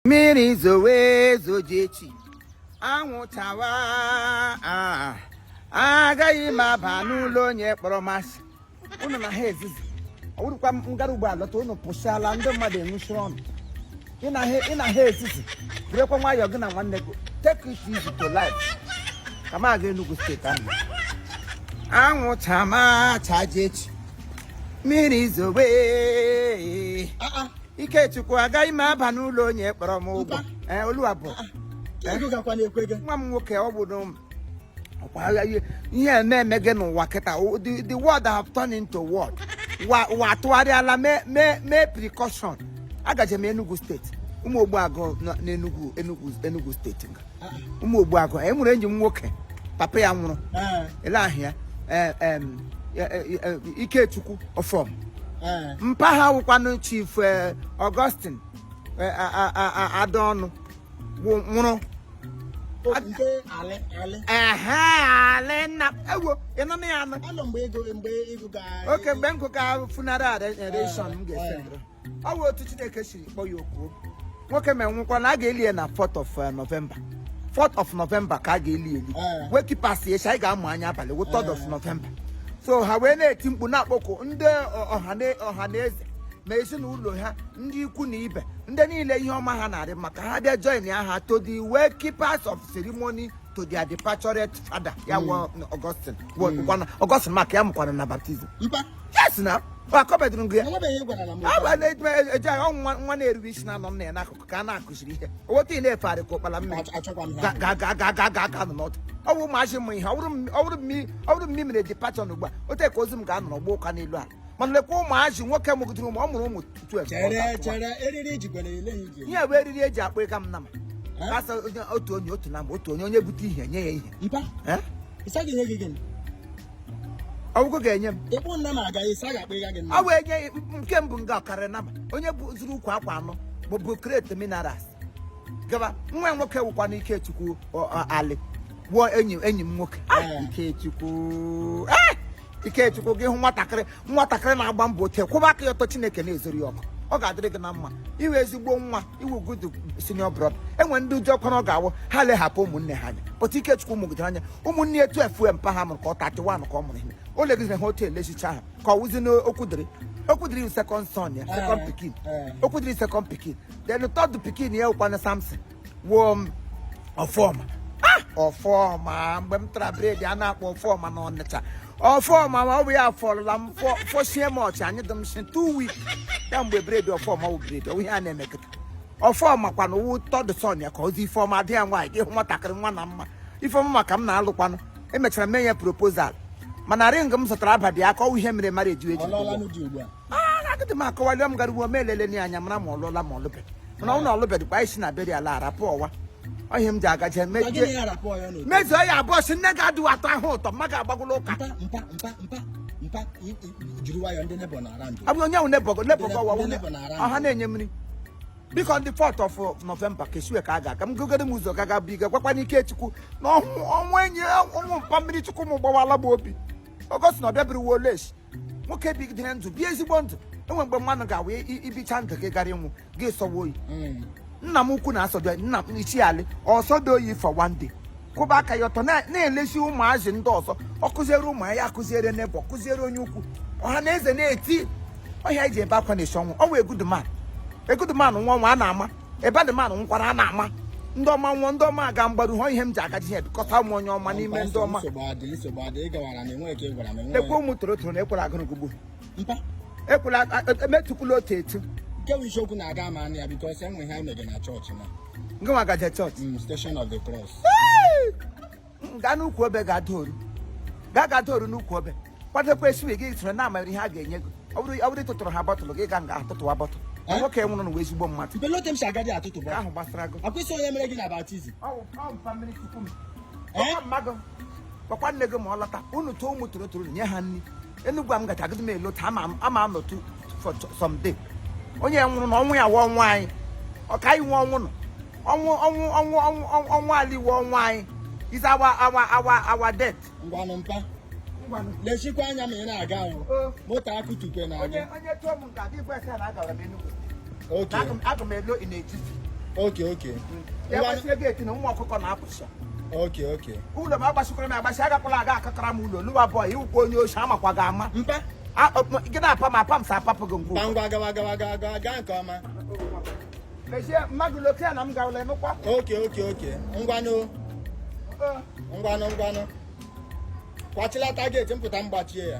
mmiri zowe zojechi anwụ chawa agaghị m aba n'ụlọ onye kpọrọ m asị ụnụ na ha ezizi ọ wụrụkwa m gara ugbo alọta ụnụ pụsịala ndị mmadụ enwuchi ọnụ ị na ha ezizi birikwa nwayọọ gị na nwanne gị take it easy to life ka m aga Enugu steeti ahụ anwụ chama chajechi mmiri zowe Ikechukwu agaghị m aba n'ụlọ onye kpọrọ m ụgwọ ee oluwa bụ ah, ah. ego gakwa na-ekwe gị nwa m nwoke ọ bụ n'ụmụ ọkwa agha ihe ihe eme eme gị n'ụwa kịta O- the the world have turned into what ụwa ụwa atụgharịala mee mee mee precaution agaje m Enugu steeti ụmụ Ogbuagụ nọ n'Enugu Enugu Enugu steeti nga ụmụ Ogbuagụ anyị nwere enyi m nwoke papa ya nwụrụ ele ahụ ya eh, em, eh, eh, eh, ikechukwu ọfọm mpa ha wụkwanụ chief eh, augustine eh, a- a- a- a- adaọnụ wụ- nwụrụ nke alị alị ehe alị nna ewo ịnụ na ya anụ anọ mgbe ego mgbe ego ga oke mgbe m gụga funeral oration m ga-ese ọ bụ otu chineke siri kpọọ ya oku nwoke ma nwụkwa na a ga-eli ya na 4th of eh, November 4th of November ka a ga-eli eli eh. wake keepers echi anyị ga-amụ anya abalị wụ 3rd of eh. November so ha wee na-eti mkpu na-akpọku ndị ọha na eze ma ezinụlọ ha ndị ikwu na ibe ndị niile ihe ọma ha na-arị mma ka ha bịa join ya ha to the wake keepers of ceremony to their departed father ya hmm. Augustine hmm. Augustine maka ya mụkwara na baptism yes na akọbedụrụ ngụ ya ọ bụ na-eji agha nwa na-erube isi na-anọ nna ya n'akụkụ ka a na-akụziri ihe oweta ị na-efegharị ka ụkpala mmiri ga-aga nọ n'ọdụ ọ bụ ụmụazị mụ ihe ọ bụrụ mmiri mere departure ugbu a otu ka ozu m ga-anọ n'ọgbọ ụka n'elu ala mana lekwa ụmụazị nwoke mụgidere ụmụ ọ mụrụ ụmụ 12 ihe bụ eriri e ji akpụga m nama kasa otu onye otu nama otu onye onye bute ihe nye ya ihe ọgwụgwọ ga-enye m ịkpụ nna na-aga isi a ga-akpa ịga gị nna ọ wee nye nke mbụ nga ọ karị nama onye bụ zụrụ ukwu akwa anọ maọbụ crate minerals gaba nwa ya nwoke wụkwa na ikechukwu ọ- ọ- ali wụ enyi enyi m nwoke Ah, ikechukwu Ah! ikechukwu gị wụ nwatakịrị nwatakịrị na-agba mbọ nwata kwụba aka ya ọtọ chineke na-ezori ya ọkụ ọ ga-adịrị gị na mma ị wụ ezigbo nwa ị wụ good senior brother enwe ndị ụjọ ọkụ na ọ ga-awụ ha leghapụ ụmụnne ha anya pụta ikechukwu mụgidere anya ụmụnne 12 mpa ha mụrụ ka ọ 31 ka ọ mụrụ ihe o legidere ha otu elechicha ha ka ọ wụzi n'okwudịrị okwudịrị second son ya second pikin okwudịrị second pikin then third pikin ya wụkwanụ samson wuo m ọfọma ah! ọfọma mgbe m tara bread a na-akpọ ọfọma na ọnịcha ọfọma ma ọ bụ ya fọrọla m fọsie m ọchị anyị dị m si two weeks ya mgbe bread ọfọma wụ bread ihe a na-eme kịta ọfọma kwana ọ wụ third son ya ka ozi ifeọma dị ya nwaanyị gị hụ nwatakịrị nwa na mma ifeọma maka m na-alụkwanụ m mechara mee ya proposal mana ring m zụtara abadị aka ọ wụ ihe mere mara eju eji agịdị m akọwalio m gara ugbo m elele anya mara ma ọ lụọla ma ọ lụbeghị mana ụlọ ọ lụbeghịkwa isi na beri ala arapụ ọwa ọhịa m ji agaje mezuo ya abụọ si nne gị adịghị atọ ahụ ụtọ mma ga-agbagwụla ụka abụ onye ahụ nebọgo nebọgo ọwa ọha na-enye mmiri biko ndị fourth of November ka esiwe ka a ga-aga m gogoro m ụzọ gaga bụ iga gwakwana Ikechukwu na ọnwụ enyi ọnwụ mpa mmiri chukwu m gbawala m obi ọgọst na ọbịa biri wolesh nwoke bigidere ndụ bie ezigbo ndụ enwe mgbe mmadụ ga-awụ i bicha ndụ gị gara ịnwụ gị sọwa oyi hmm. nna m ukwu na-asọdo nna m ichi alị ọ sọdo oyi for one day kwụba aka ya ọtọ na-elesi ụmụazị ndị ọzọ ọ kụziere ụmụ ya akụziere n'ebe ọ kụziere onye ukwu ọha na eze na-eti ọha ji ebe akwa na esiwe ọ wụ a good man a good man nwa ọnwa a na-ama a bad man nwekwara a na-ama ndị ọma nwụọ ndị ọma aga mgbaru hụ ihe m ji agaje ihe bikọta ụmụ onye ọma n'ime ndị ọma lekwa ụmụ torotoro na ekwela agụrụ gụgbu ekwela emetụkwula otu etu nke bụ isiokwu na-aga ama anya because enwe ihe anyị mege na chọọchị na ngị nwa gaje chọọchị mm, station of the cross gaa n'ukwu obe ga-ada oru gaa ga-ada oru n'ukwu obe kwadokwa esiwe gị soro na-amara ihe a ga-enye gị ọ bụrụ ịtụtụrụ ha bottle gị ga nga atụtụwa bottle Eh? nwoke nwụrụ n'ụwa ezigbo mmadụ belote m si agadi atụtụ bụ ahụ gbasara gị akwụsị onye mere gị na baptism eh? gwakwa nne gị ma ọ lọta unu tụọ ụmụ torotoro nye ha nri Enugu a m gacha agịdị m elota ama m- ama m nọtụ for some day onye nwụrụ na ọnwụ ya wụ ọnwụ anyị ọ ka anyị nwe ọnwụ nọ ọnwụ ọnwụ ọnwụ ọnwụ ọnwụ- ọnwụ ali wụ ọnwụ anyị is our our our our death ngwanụ mpa lechikwa anya ma ị na-aga ahụ moto akụtukwe na-aga onye tụọ m okay okay ụmụ ọkụkọ na-apụcha okay okay ụlọ m agbasikwara m agbasi agakwala aga akakara m ụlọ lụwa boy ị wụkwa onye ochi amakwa gị ama gị na-apa m apa m sa apapụ gị ngwa ngwa gawa gawa gawa gawa gaa nke ọma mechie mmadụ lokia na m gawala emekwa okay okay okay ngwanụ ngwanụ ngwanụ kwachilata gate m pụta m gbachie ya